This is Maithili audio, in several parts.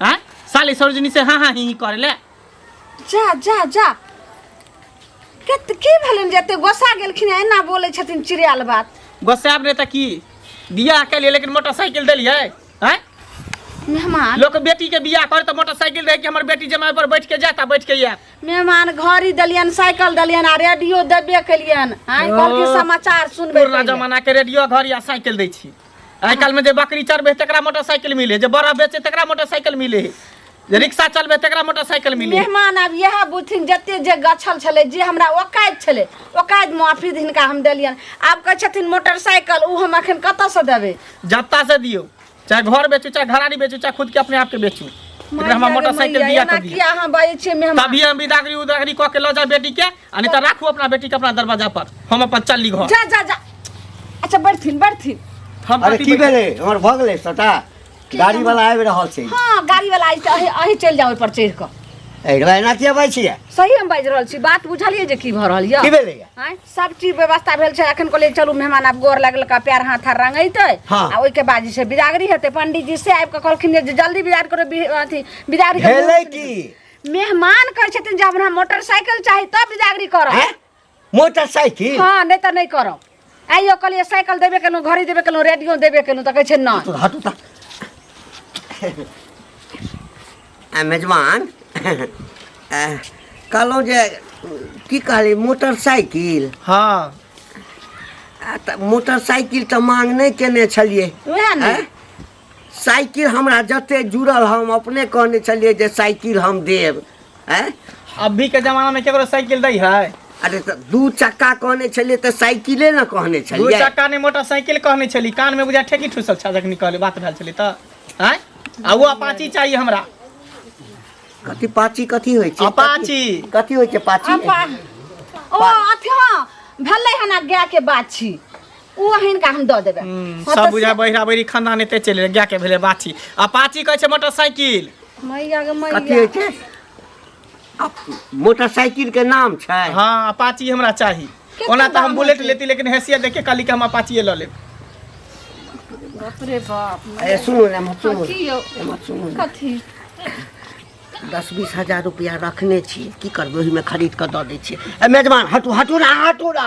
हाँ साले सरोजनी से हाँ हाँ ही ही करे ले जा जा जा कत की भेलन जते गोसा गेलखिन एना बोलै छथिन चिड़ियाल बात गोसाब ने त की बियाह के लिए लेकिन मोटरसाइकिल देलिए हैं मेहमान लोग बेटी के बियाह करे तो मोटरसाइकिल रहे कि हमर बेटी जमाए पर बैठ के जाता बैठ के या मेहमान घड़ी देलियन साइकिल देलियन आ रेडियो देबे केलियन आइ ओ। कहलखिन समाचार सुनबे पुरना केलियन। जमाना के रेडियो घर या साइकिल दै छी आइ काल्हिमे जे बकरी चढ़बै तकरा मोटरसाइकिल मिले है जे बड़ा बेचे तकरा मोटरसाइकिल मिले है जे रिक्शा चलबै तकरा मोटरसाइकिल मिले है मेहमान आब इएह बुझथिन जते जे गछल छलै जे हमरा ओकाइत छलै ओकाइत माफी हिनका हम देलियनि आब कहै छथिन मोटरसाइकिल ओ हम एखन कतऽसँ देबै जत्ता से दियो चाहे घर बेचू चाहे घराड़ी बेचू चाहे खुद के अपने आप के बेचू एकरा हमरा मोटरसाइकिल दिया के दियो अहाँ बाजै छियै मेहमान तभी हम बिदागरी उदागरी कऽ के लऽ जाए बेटी के आ नहीं तो राखू अपना बेटी के अपना दरवाजा पर हम अपन चल ली घर जा जा जा अच्छा बैठथिन बैठथिन हम अरे कथी की बैठे? भेलै हमर भऽ गेलै सटा गाड़ी वाला आबि रहल छै हाँ गाड़ी वाला आई अही अही चलि जाओ पर चढ़ि कऽ एकरा एना किया बाजै छियै सही हम बाजि रहल छी बात बुझलियै जे की भऽ रहल की यऽ भेलैया आँय, सब चीज व्यवस्था भेल छै अखन कहलियै चलू मेहमान आब गोर लागल का पैर हाथ आर रंगेतै हाँ। आ ओहिके बाद जे छै बिदागरी हेतै पंडीजी से आबि कऽ कहलखिन जे जल्दी बिदागरी करो बि- अथी बिदागरी के भेलै मुहूर्त की मेहमान कहै छथिन जे हमरा मोटरसाइकिल चाही तब बिदागरी करब हैं? मोटरसाइकिल हाँ नहीं तो नहीं करब आइयो कहलिए साइकिल देबे केलहुँ घड़ी देबे केलहुँ रेडियो देबे केलहुँ तऽ कहै छै नहि तो हटू ता आ, मेजबान आ, कहलहुँ जे की कहली मोटरसाइकिल हाँ आ, तऽ मोटरसाइकिल तऽ मांग नहि केने छलियै उएह ने हैं? साइकिल हमरा जते जुड़ल हम अपने कहने छलिए जे साइकिल हम देब हैं अभी के जमाना में केकरो साइकिल दै है अरे तो दू चक्का कहने छलिए तो साइकिले ना कहने दू छलिए चक्का ने मोटरसाइकिल कहने छली कान में बुझा ठेकी ठुसल छा जखनी कहले बात भेल छली त हैं आ वो अपाची चाहिए हमरा कथी पाची कथी होइ छै अपाची। कथी- कथी होइ छै पाची अपा ओ अथी हाँ भेलै हन आ गाय के बाछी ओ हिनका हम दऽ देबै हम्म, हँ, सब तऽ बुझा बहिरा बहिरी खानदान एते चलि गेलै गायके भेलै बाछी आ पाछी कहै छै मोटरसाइकिल मैया गे मैया कथी होइ छै आ मोटरसाइकिल के नाम छै हाँ अपाची हमरा चाही केकर ओना तऽ हम दाम बुलेट होतै? लेती लेकिन हैसियत देख के कहली कि हम अपाचिए लऽ लेब बाप रे बाप अरे सुनू ने एम्हर सुनू कथी यौ एम्हर सुनू ने। कथी दस बीस हजार रुपया रखने छी की करबै ओहिमे खरीद कऽ दऽ दै छियै ए मेजबान हटू हटू ना हटू ना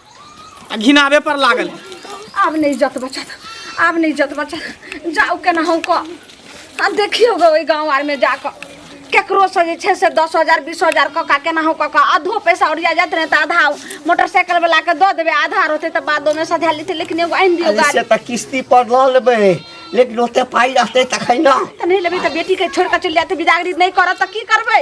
आ घिनाबे पर लागल आब नहीं जत बचत आब नहीं जत बचत जाओ केना हम को आ देखियो गो ओई गांव आर में जाक केकरो से जे छै से दस हजार बीस हजार कऽ का केना हम कऽ का आधो पैसा ओरिया जात रहे तऽ आधा मोटरसाइकिल वाला के दऽ देबै आधा रहते तऽ बादो में सधा लेते लेकिन एगो आनि दियो अरे गाड़ी से तऽ किस्ती पर लऽ लेबै लेकिन ओते पाइ रहतै तखन ने तऽ नहीं लेबै तऽ बेटी के छोड़ के चलि जाते बिदागरी नहीं करत तऽ की करबै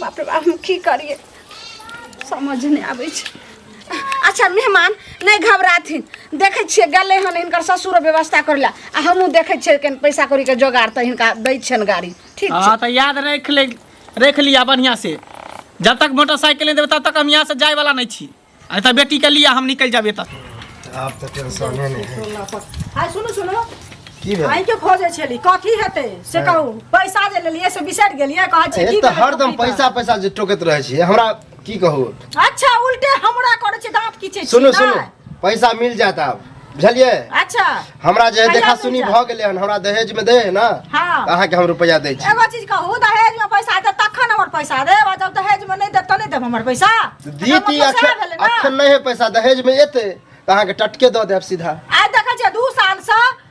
बाप रे बाप हम की करिए समझ नहि आबै छै अच्छा मेहमान नहि घबराथिन देखै छियै गेलै हन हिनकर ससुर व्यवस्था करै लए आ हमहूँ देखै छियै कनि पैसा कौड़ीके जोगाड़ तऽ हिनका दै छियनि गाड़ी ठीक छै हाँ तो याद रख ले रख लिया बढ़िया से जब तक मोटरसाइकिल नहीं देवे तब तक हम यहाँ से जाए वाला नहीं छी अरे तो बेटी के लिए हम निकल जाबे तब आब तऽ टेंशने नहि है टोला पर हाय सुनू सुनू की भेल आइ के खोजे छेली कथी हेतै से कहू पैसा जे लेलियै से बिसरि गेलियै कहै छै एक की तऽ भेलै हरदम टोकरी पैसा पैसा जे टोकैत रहै छियै हमरा की कहू तऽ? अच्छा उल्टे हमरा करै छै दांत किछे छी सुनू सुनू नहि? पैसा मिल जायत आब बुझलियै अच्छा हमरा जे है कहिया देखा मिल सुनी जायत? भऽ गेलै हन हमरा दहेज में दे है ना हाँ। तऽ अहाँके हम रुपैआ दै छी एगो चीज कहू दहेज में पैसा देब तखन हमर पैसा देब आ जब दहेज में नहीं देब तऽ नहीं देब हमर पैसा तऽ दी एकर ती मतलब सएह अखन भेलै ने। अखन नहि है पैसा दहेज में एतै तऽ अहाँके टटके दऽ देब सीधा आइ देखै छियै दू सालसँ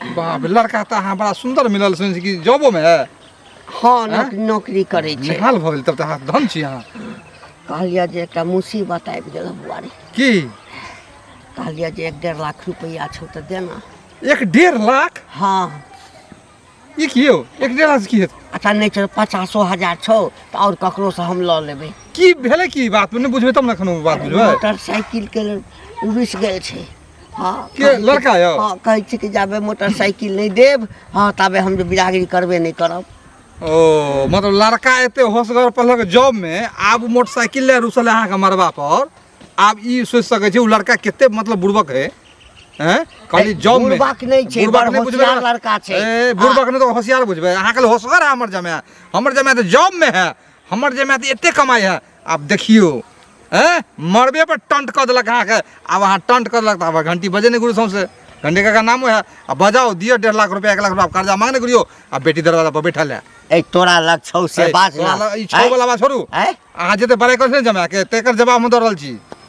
बाप लड़का तऽ अहाँ बड़ा सुन्दर मिलल सुनै छी कि जॉबोमे है हँ नौक- नौकरी करै छै निहाल भऽ गेल तब तऽ अहाँ धन छी अहाँ कहलियै जे एकटा मुसीबत आबि गेल बुआरी की कहलियै जे एक डेढ़ लाख रुपैआ छौ तऽ देना एक डेढ़ लाख हँ ई की यौ एक डेढ़ लाख की हेतै अच्छा नहि छौ पचासो हजार छौ तऽ आओर ककरोसँ हम लऽ लेबै की भेलै की बात नहि बुझबै तब ने एखन ओ बात बुझबै मोटरसाइकिलके रुसि गेल छै हाँ के कहै छी- लड़का यौ हाँ कहै छी कि जाबे मोटरसाइकिल नहीं देब हाँ ताबे हम जे बिरागरी करबे नहीं करब ओ मतलब लड़का एते होशगर पढ़लक जॉब में आब मोटरसाइकिल ले रुसल है अहाँके मरबा पर आब ई सोचि सकै छी ओ लड़का कते मतलब बुड़बक है हैं खाली ए, जॉब में बुड़बक नहि छै, बुड़बक बड़ नहि बुझबै होशियार अहाँ। लड़का छै। ए, बुड़बक नहि तऽ होशियार बुझबै अहाँके लेल होशगर है हमर जमाय हमर जमाय तऽ जॉब में है हमर जमाय तऽ एते कमाइ है आब देखियौ हैं मरबे पर टंट कऽ देलक अहाँके आब अहाँ टंट कऽ देलक तऽ आब घंटी बजे नहि गुरु सौंसे घंटी काका नामो है आ बजाओ दियो डेढ़ लाख रुपया एक लाख रुपया कर्जा मांगने करियो आ बेटी दरवाजा पर बैठल है ए तोरा लग छौ से बात ना ई छौ वाला बात छोड़ू हैं? अहाँ जते बड़े कर जमा के तेकर जवाब हम दऽ रहल छी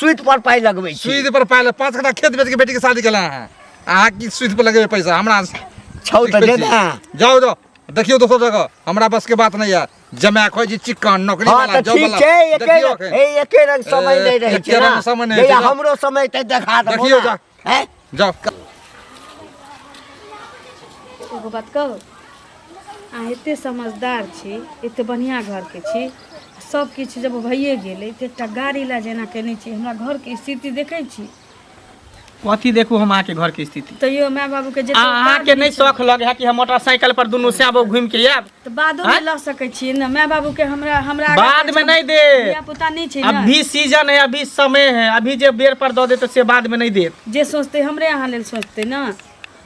सुत पर पाई लगबे छी सुत पर पाई ले पांच कट्ठा खेत बेच के बेटी के शादी केला है आ की सुत पर लगबे पैसा हमरा छौ त दे ना जाओ जाओ देखियो दोसर जगह हमरा बस के बात नहीं है जमा खोज जी चिकन नौकरी हाँ, वाला जॉब वाला है एके एके रंग समय नहीं रहे छै ना समय नहीं हमरो समय त देखा दो देखियो जा हैं जाओ एगो बात कहू अहाँ एते समझदार छी एते बढ़िया घर के छी सब किछु जब भइए गेलै तऽ एकटा गाड़ी ला जेना केने छी हमरा घर के स्थिति देखै छी कथी देखू हम अहाँके घर के स्थिति तैयो माय बाबू के आ अहाँके नहि शौक लगे है कि हम मोटरसाइकिल पर दुनू श्याम घूम के आयब तऽ बादो आँय? में लऽ सकै छियै ने माय बाबू के हमरा हमरा आगा बाद में पीछा नहीं दे धिया पुता नहीं छै ना अभी सीजन है अभी समय है अभी जे बेर पर दऽ दे तऽ से बाद में नहीं देत जे सोचते हमरे अहाँ लेल सोचते ना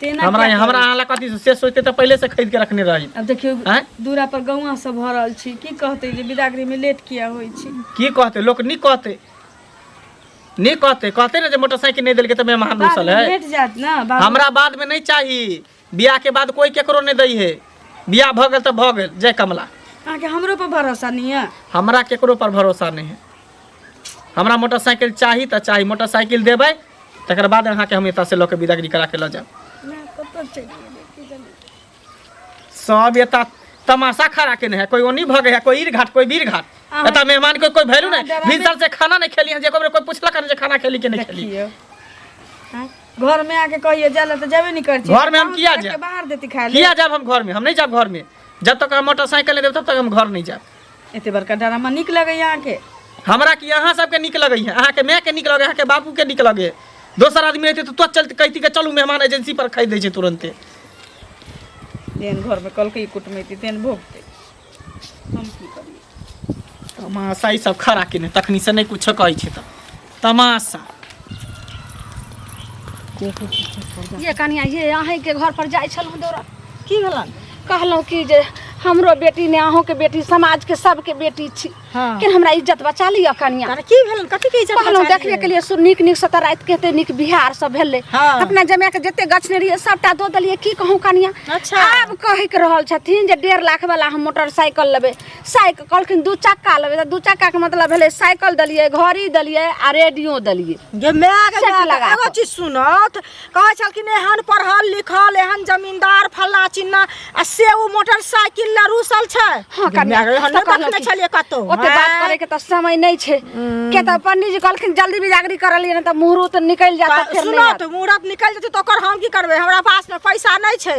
तेना हमरा क्या हमरा करब? अहाँ ला कथी से- से सोचते तऽ पहिले से खरीद के रखने रही अब देखियो आँय? दूरा पर गौवा सब भऽ रहल छी की कहते जे बिदागरी में लेट किया होइ छी की कहते लोक नी कहते नी कहते कहते ना जे मोटरसाइकिल नहीं देलके तऽ मेहमान बाद घुसल में है भेट जात ना बाबू हमरा बाद में नहीं चाहिए बियाह के बाद कोई केकरो नहीं दई है बियाह भ गेल त भ गेल जय कमला अहाँके हमरो पर भरोसा नहीं है हमरा केकरो पर भरोसा नहीं है हमरा मोटरसाइकिल चाही त चाही मोटरसाइकिल देबै तकर बाद अहाँ के हम एतऽ से लऽ के बिदागरी करा के लऽ जाएब कतऽ चलि गेलै की जाने सब एतऽ तमाशा खड़ा केने है कोई ओनी भगे है कोई ईर घाट कोई बीर घाट अहाँ- एतऽ मेहमान के कोई वैल्यू अहाँ नहीं डराबे- भीतर से खाना नहीं खेली है जेको कोई पूछलक है जे खाना खेली कि नहीं खेली देखियौ आँय, घर में आके कहिए जाला तो जाबे नहीं कर घर में हम किया जाए? जाए बाहर देती खाए ले किया जाब हम घर में हम नहीं जाब घर में जब तक हम मोटरसाइकिल नहीं देब तब तक हम घर नहीं जाब एते बड़का डरामा निक लगे यहाँ के हमरा कि अहाँ सबके नीक लगै है अहाँके माय के नीक लगै अहाँके बाबू के नीक लगै दोसर आदमी रहते तो तुरंत चलते कहती के चलू मेहमान एजेंसी पर खरीद दै छै तुरंते तेन घर में कल के कुटमैती तेन भोगते हम की करिए तमाशा ई सब खड़ा केने तखनी से नहीं कुछ कहै छै त तमाशा ये कनिया ये अहीं के घर पर जाइ छलहुँ दौरा की भेलन कहलहुँ कि जे हमरो बेटी ने अहूँके बेटी समाजके सबके बेटी छी हाँ। लेकिन हमरा इज्जत बचा लिअ कनिया अरे की भेलन कथी के इज्जत कहलहुँ बचा देख लिअ? के लिए सु- नीक नीक सतर राति के हेतै नीक बिहार सब भेलै हाँ। अपना जमाए के जते गछने रहियै सबटा दऽ देलियै की कहूँ कनिया अच्छा। आब कहै के रहल छथिन जे डेढ़ लाख वाला हम मोटरसाइकिल लेबै साइकिल कहलखिन दू चक्का लेबै तऽ दू चक्का के मतलब भेलै साइकिल देलियै घड़ी देलियै आ रेडियो देलियै गे माय गे सेट माय, लगा एगो कऽ। चीज सुनत कहै छलखिन एहन पढ़ल लिखल एहन जमींदार फल्ला चिन्ना आ से ओ मोटरसाइकिल लऽ रूसल छै हाँ, कन्या, दुनिया के एहन तऽ नहि कहलहुँ देखने कि- छलियै कतौ ओते बात हाँ। करे के तऽ समय नहीं छै के तऽ पंडित जी कहलखिन जल्दी बिजागरी कर लिए नहीं तऽ मुहूर्त निकल जाता फिर नहीं सुनो आत। तऽ मुहूर्त निकलि जेतै तऽ ओकर हम की करबै हमरा पासमे पैसा नहि छै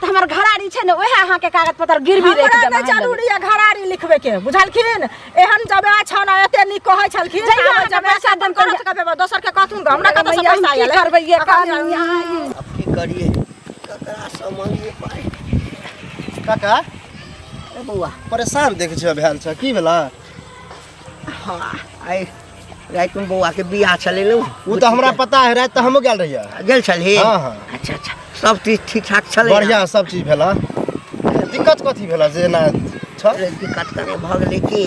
तऽ हमर घरारी छै ने ओहे अहाँके कागज पत्र गिरवी राखि हमरा देब नहि अहाँ लग। जरूरी है घरारी लिखबे के बुझलखिन एहन जबे छन एते नीक कहै छलखिन जहिया आब अहाँके जबे पैसा साधन देब करत कहिया- कबे दोसर के कहथुन हमरा कतऽ से मैया, हम पैसा की आयल करबै ये काम यहाँ ई? अब की करिए ककरा से मांगिए पाई काका ए बौआ परेशान देखे छियै भेल छ की भेला हाँ, आइ राति में बौआ के बियाह छलै ने उ त हमरा पता है रात त हमो गेल रहिया गेल छलही हाँ, हाँ। अच्छा अच्छा सब चीज ठीक ठाक छलै ने? बढ़िया सब चीज भेला दिक्कत कथी भेला जे ना छ अरे दिक्कत कने भऽ गेलै कि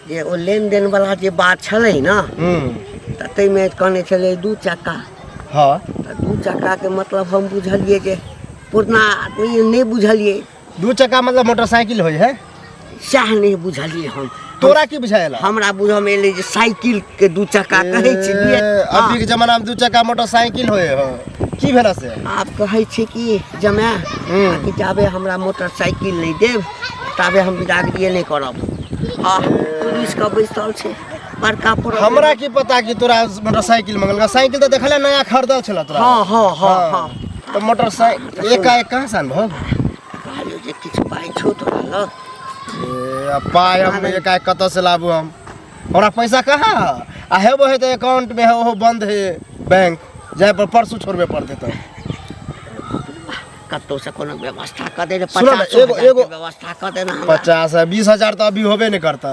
जे ओ लेन देन वाला जे बात छलै ने हम्म तऽ ताहिमे कहने छलै दू चक्का हाँ तऽ दू चक्काके मतलब हम बुझलियै जे पुरना आदमी नहि बुझलियै दू चक्का मतलब मोटरसाइकिल होइ है सएह नहि बुझलियै हम तोरा की बुझायल हमरा बुझमे एलै जे साइकिल के दू चक्का कहै छी ए, अभी के जमाना में दू चक्का मोटरसाइकिल होय हो की भेला से आब कहै छी कि जमाय हम्म। कि जाबे हमरा मोटरसाइकिल नहि देब ताबे हम बिदागरिए नहि करब आ पुलिस के बैसल छै बड़का पर हमरा की पता कि तोरा मोटरसाइकिल मंगल साइकिल तो देखले नया खरीदल छला तोरा हाँ हाँ हाँ हाँ तो मोटरसाइकिल एकाएक कहाँ सान भऽ कहलियो जे किछु पाइ छौ तोरा लग ए, अब पाय हम एकाएक कतऽ से लाबू हम हमरा पैसा कहाँ है आ हेबो है तऽ अकाउंट में है ओहो बंद है बैंक जाय पर परसू छोड़बे पड़ते तो कतौ से कोनो व्यवस्था कऽ दे रे सुनऽ ने, पचास एगो- हजार एगो- के व्यवस्था कऽ दे ना हमरा। पचास है बीस हजार तो अभी होबे नहीं करता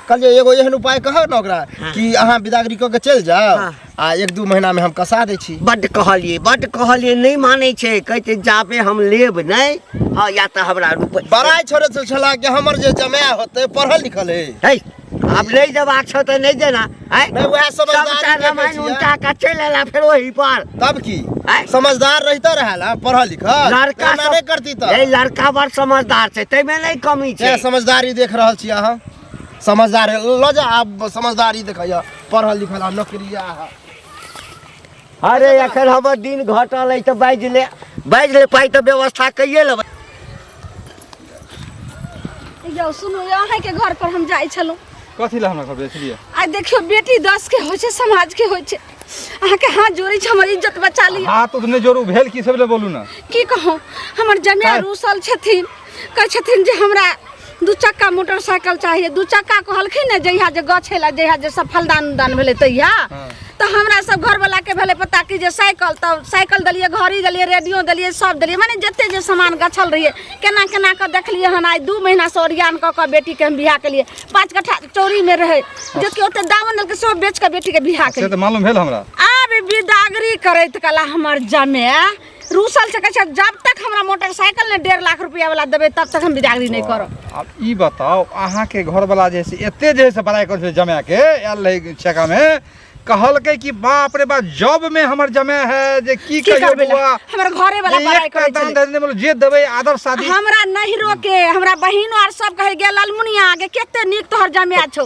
कहलिए एगो एहन उपाय कह ना ओकरा कि अहाँ बिदागरी कऽ के चलि जाओ हाँ। आ एक दू महीनामे हम कसा दै छी बड्ड कहलियै बड्ड कहलियै नहि मानै छै कहै छै जाबे हम लेब नहि हँ या तऽ हमरा रूप बड़ाइ छोड़े से छला कि हमर जे जमाय होतै पढ़ल लिखल है है आब नहि देबाक छौ तऽ नहि देना है नहि वएह सब समझदार रामायण उल्टा कऽ चलि एला फेर ओही पर तब की आँय? समझदार रहिते रहै ना पढ़ल लिखल लड़का एना सब- नहि करती तऽ ए लड़का बड़ समझदार छै ताहिमे नहि कमी छै ए, समझदारी देख रहल छी अहाँ समझदार है लो जा आप समझदारी देखा पढ़ल लिखल आ नौकरिया है अरे एखन हमर दिन घटल है तो बाज ले बाज ले पाई तो व्यवस्था कहिए लेबै यौ सुनू यौ अहाँके घर पर हम जाइ छलहुँ कथी लए हमरा घर बेचलियै आ देखियो बेटी दस के होइ छै समाज के होइ छै अहाँके हाथ जोड़ै छै हमर इज्जत बचा लिअ हाथ उठने जोरू भेल की सब ले बोलू ना की कहूँ हमर जमाय काहे? रूसल छथिन कहै छथिन जे हमरा दू चक्का मोटरसाइकिल चाहिए दू चक्का कहलखिन ने जहिया जे गछ है जहिया जे सफलदान उदान भेलै तहिया हाँ। तऽ हमरा सब घरवला के भेलै पता कि जे साइकिल तऽ साइकिल देलियै घड़ी देलियै रेडियो देलियै सब देलियै माने जते जे सामान गछल रहियै केना केना कऽ देखलियै हन आइ दू महीना से ओरियान कऽ कऽ बेटी के हम बियाह केलियै पाँच कट्ठा चोरी में रहै जे कि ओते दामन देलकै सब बेच कऽ बेटी के बियाह से केलियै तऽ मालूम भेल हमरा आब बिदागरी करैत कला हमर जमे रूसल से कहे जब तक हमरा मोटरसाइकिल ने डेढ़ लाख रुपया वाला देबे तब तक हम बिदागरी नहीं करब अब ई बताओ अहाँ के घर वाला जे से एते जे से बड़ाई कर जमा के आयल रहे छेका में कहल के कि बाप रे बाप जॉब में हमर जमा है जे की की कहियो करबे ला? बुआ हमर घरे वाला जे बड़ाई एक करे दान छले। दे देने बोलो जे देबे आदर शादी हमरा नहीं रोके हमरा बहिनो आर सब कहे गे ललमुनिया आगे केते नीक तोहर जमिया छौ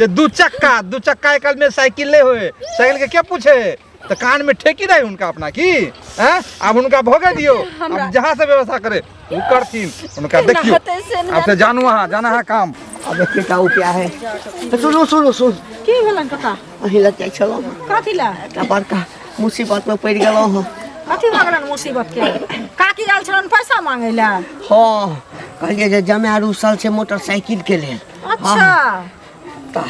ये दू चक्का दू चक्का एक में साइकिल नहीं होए साइकिल के क्या पूछे तो कान में ठेकी रही उनका अपना की हैं अब उनका भोगे दियो अब जहाँ से व्यवस्था करे वो करतीन उनका देखियो अब से जानू वहाँ जाना है काम अब देखिए का उपाय है तो सुनो सुनो सुन की भेलन कका अही लग जाय छलो कथि ला का बड़का मुसीबत में पड़ गेलो हो कथि भऽ गेलन मुसीबत के काकी आयल छलन पैसा मांगे ला हां कहलिए जे जमे आरू साल से मोटरसाइकिल के लेल अच्छा तऽ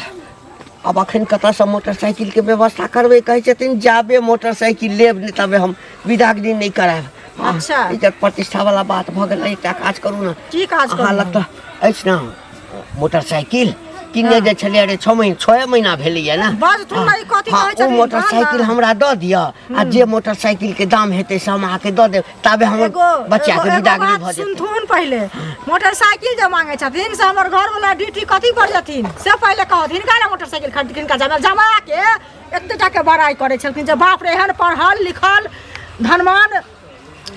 आब अखन कतऽसँ मोटरसाइकिलके व्यवस्था करबै कहै छथिन जाबे मोटरसाइकिल लेब नहि तबे हम विदागरी नहि करायब हँ, अच्छा। इज्जत प्रतिष्ठा वाला बात भऽ गेल एकटा काज करू ने की काज अहाँ करू लग तऽ अछि ने मोटरसाइकिल किनने जे छलियै अरे छओ महीना छओ महीना भेलैया ने बड़ तू हँ, ई कथी हँ, कहै ओ छथिन? मोटरसाइकिल बाबा। हमरा दऽ दिअ आ जे मोटरसाइकिलके दाम हेतै से हम अहाँके दऽ देब तबे हम एगो बच्चा एगो- के एगो बिदागरी बात भऽ जेतै सुनथुन पहिले मोटरसाइकिल जे मांगे छथिन से हमर घर वाला ड्यूटी कथी पर जथिन से पहिले कहत हिनका ले मोटरसाइकिल खरीद किनका जामे जमा के एते टा के बड़ाई करे छलखिन जे बाप रे एहन पढ़ल लिखल धनवान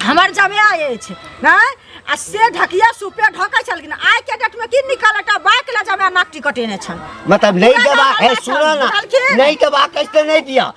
हमर जमया अछि नहि आ से ढकिया सुपे ढकै छलखिन आइ के डेट में की निकल एकटा बाइक ले जमया नाक टिकटेने छल मतलब नहीं पूरा देबा गाँव है में सुनो छल, ना बुझलखिन? नहीं देबा कैसे नहीं दिया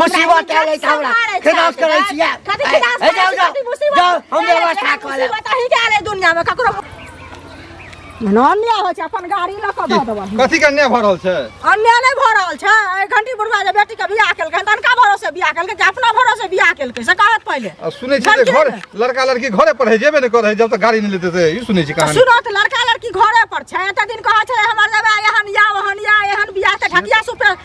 मुसीबत आ गई हमरा खिलाफ करे छिए कथी खिलाफ करे जाओ जाओ मुसीबत जाओ हम व्यवस्था कर ले मुसीबत ही के दुनिया में ककरो अन्याय हो छै अपन गाड़ी ल क द देबो कथी के अन्याय भ रहल छै अन्याय नै भ रहल छै ए घंटी बुढ़वा जे बेटी के बियाह केलकै तनका भरोसे बियाह केलकै कि अपना भरोसे बियाह केलकै से कहत पहिले आ सुनै छी जे घर लड़का लड़की घरे पर है जेबे नै करे जब तक गाड़ी नै लेते से ई सुनै छी कहानी सुनो त लड़का लड़की घरे पर छै एते दिन कहै छै हमर जबे एहन या ओहन या एहन बियाह त ढकिया सुपे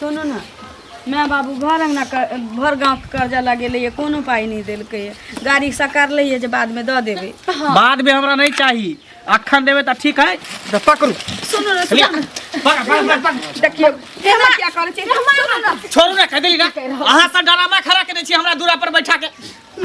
सुनू ने माय बाबू भर अंगना कर- भर गाँव के कर्जा लगेलैए कोनो पाइ नहि देलकैए गाड़ी सकारलैए जे बादमे दऽ देबै बाद में हमरा नहीं चाहिए अखन देवे तो ठीक है तो पकड़ू सुनू ने लिया। सुनू ने पकड़, पकड़, पकड़, पकड़। देखियौ एना किया करै छै सुनू ने छोड़ू ना कह दिली ना अहाँ सब डरामा खड़ा केने छी हमरा दूरा पर बैठा के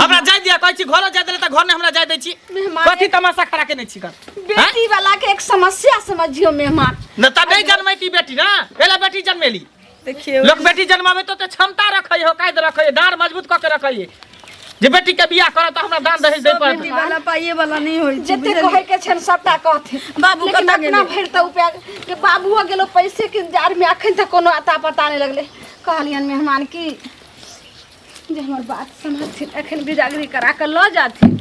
हमरा जाय दिया कहै छी घरो जाय देले त घर ने हमरा जाय दै छी मेहमान कथी तमाशा खड़ा केने छी कर बेटी वाला के एक समस्या समझियो मेहमान न त नहीं जन्मै ती बेटी ना एला बेटी जन्मेली देखिए लोक बेटी जन्मावे तो ते क्षमता रखै हो कायद रखै डार मजबूत क के रखै जे बेटी के बियाह करत हमरा दान दहेज दे पर बेटी वाला पाइए वाला नहीं होई छै जते कहै के छन सबटा कहथे बाबू लेकिन कतऽ अपना गेलै? भरि त उपाय के बाबुओ गेलो पैसे के जार में अखन तक कोनो अता पता नहीं लगले कहलियन मेहमान की जे हमर बात समझथिन एखन बिजागरी करा कऽ लऽ जाथिन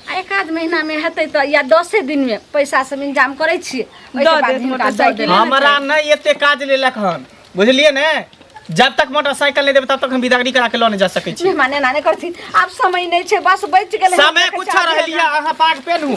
आ एक आध महीनामे हेतै तऽ या दसे दिनमे पैसा सब इंतजाम करै छियै ओहिके दऽ बाद देत हिनका दऽ मोटरसाइकिल। देब। हमरा नहि एते काज लेलक हन बुझलियै ने जब तक मोटरसाइकिल नहि देबै तब तक हम बिदागरी करा के लऽ नहि जा सकै छी मेहमान एना नहि करथिन आब समय नहि छै बस बचि गेलै समय कुछ रहलियै अहाँ पाग पेनहू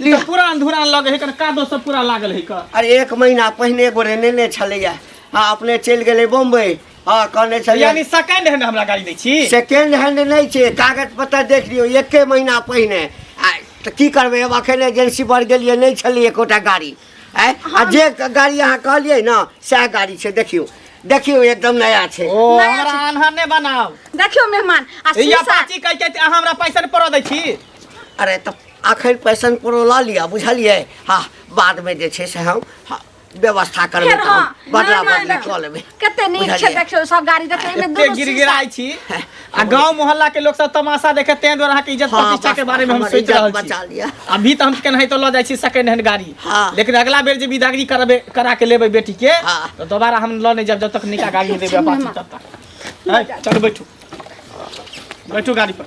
ई तऽ पुरान धुरान लगे है कन कादो सब पूरा लागल है का अरे एक महीना पहिने एगो रेने ने छलैया आ अपने चलि गेलै बम्बई हँ कहने छलियै यानी सेकंड हैंड हमरा गाड़ी दै छी सेकेंड हैंड नहि छै कागज पत्तर देख लियौ एके महीना पहिने आ तऽ की करबै हम अखन एजेंसी पर गेलियै नहि छलै एकोटा गाड़ी आँय आ जे गाड़ी अहाँ कहलियै ने सएह गाड़ी छै देखियौ देखियौ एकदम नया छै ओ नया हमरा छै। आन्हर ने बनाओ देखियो मेहमान आ या शीशा पाची कह के अहाँ हमरा पैसा ने पड़ो दै छी अरे तऽ अखन पैसन पुरौला लिअ बुझलियै हा बादमे जे छै से हम हा, व्यवस्था करबै फेर तऽ हम हाँ, बदला ना, ना, बदली ना। कऽ लेबै कते नीक छै बुझलियै? देखियौ सब गाड़ी देखियौ एहिमे एते दुनू गिरगिराइ छी आ गांव मोहल्ला के लोग सब तमाशा देखे तें द्वारा अहाँके इज्जत हाँ, प्रतिष्ठा के बस, बारे में हम हमर सोचि इज्जत रहल बचा छी लिअ। अभी तऽ हम केनाहि तो लऽ जाइ छी सेकंड हैंड गाड़ी हाँ। लेकिन अगला बेर जे विदागरी करबे करा के लेबै बेटी के हाँ। तऽ दोबारा हम लऽ नहि जाब जब तक निका गाड़ी देबै अपाची तब तक है, चलू बैठू बैठू गाड़ी पर